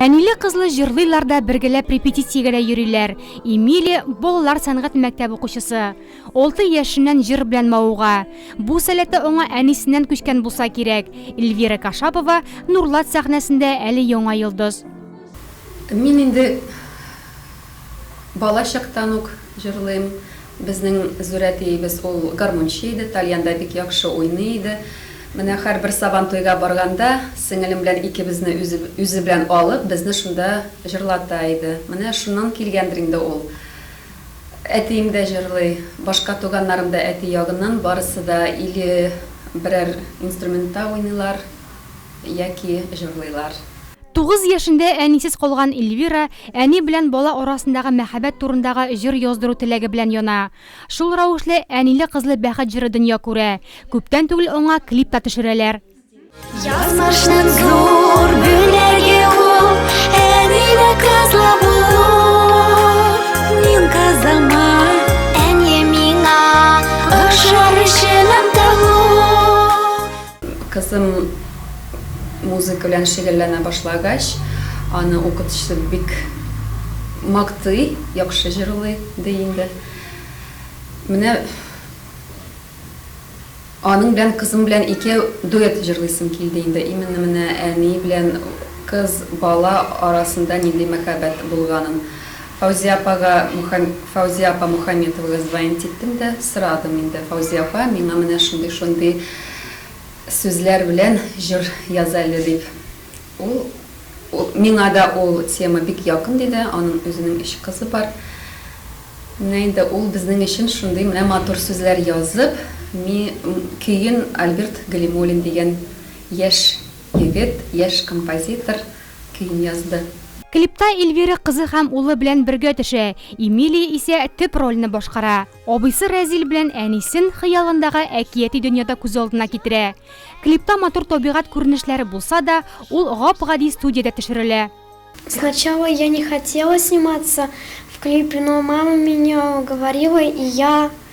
Әниле-кызлы җырлыйлар да бергәләп репетициягә дә йөриләр. Эмилия балалар сәнгать мәктәп укучысы. Алты яшеннән җыр белән мавыга. Бу сәләте аңа әнисеннән күчкән булса кирәк. Эльвира Кашапова Нурлат сәхнәсендә әле яңа йолдыз. Мин инде бала чактан ук җырлыйм. Безнең Зурә әтиебез ул гармунчы иде, тальян да бик яхшы уйный иде. Менә һәрбер Сабантуйга барганда, сеңелем белән икебезне үзе үзе белән алып, безне шунда җырлата иде. Менә шуннан килгәндер инде ул. Әтием дә җырлый, башка туганнарым да әти ягыннан барысы да или берәр инструментта уйныйлар, яки җырлыйлар. Тугыз яшендә әнисез калган Эльвира әни белән бала арасындагы мәхәббәт турындагы җыр яздыру теләге белән яна. Шул рәвешле Әниле-кызлы бәхет җыры дөнья күрә. Күптән түгел аңа клип та төшерәләр. Язмышның зур бүләге ул, Әниле-кызлы булу. Мин кызыма, әни миңа, Охшар җылым тылу. Кызым музыка белән шөгыльләнә башлагач, аны укытучысы бик мактый, яхшы җырлый, ди инде. Менә аның белән, кызым белән икәү дуэт җырлыйсым килде инде. Именно менә әни белән кыз бала арасында нинди мәхәббәт булганын Фәүзия апага Мөхәм Фәүзия апа Мөхәмметовага звонить иттем дә сорадым инде, Фәүзия апа, миңа менә шундый-шундый сүзләр белән җыр яз әле, дип. Ул Ул Миңа да ул тема бик якын, диде, аның үзенең өч кызы бар. Менә инде ул безнең өчен шундый менә матур сүзләр язып, ми көен Альберт Галимуллин дигән яшь егет, яшь композитор, көен язды. Клипта Эльвира кызы һәм улы белән бергә төшә, Эмилия исә төп рольне башкара. Абыйсы Рәзил белән әнисен хыялындагы әкияти дөньяда күз алдына китерә. Клипта матур табигать күренешләре булса да, ул гап-гади студиядә төшерелә. Сначала я не хотела сниматься в клипе, но мама меня уговорила и я.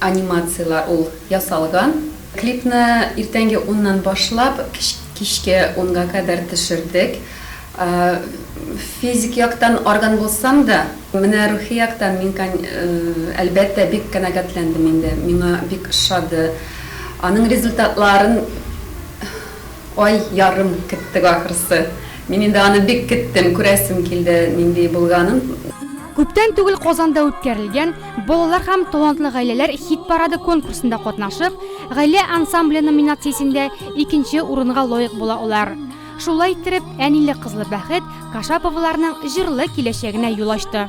анимацияләр ул ясалган. Клипны иртәнге уннан башлап, кичке унга кадәр төшердек. Физик яктан арган булсам да, менә рухи яктан мин, әлбәттә, бик канәгатьләндем инде. Миңа бик ошады. Аның результатларын ай ярым көттек, ахрысы. Мин инде аны бик кеттем, күрәсем килде нинди булганын. Күптән түгел Казанда үткәрелгән Балалар һәм талантлы гаиләләр хит-парады конкурсында катнашып, Гаилә ансамбле номинациясендә икенче урынга лаек була алар. Шулай иттереп, әниле-кызлы бәхет Кашаповаларның җырлы киләчәгенә юл ачты.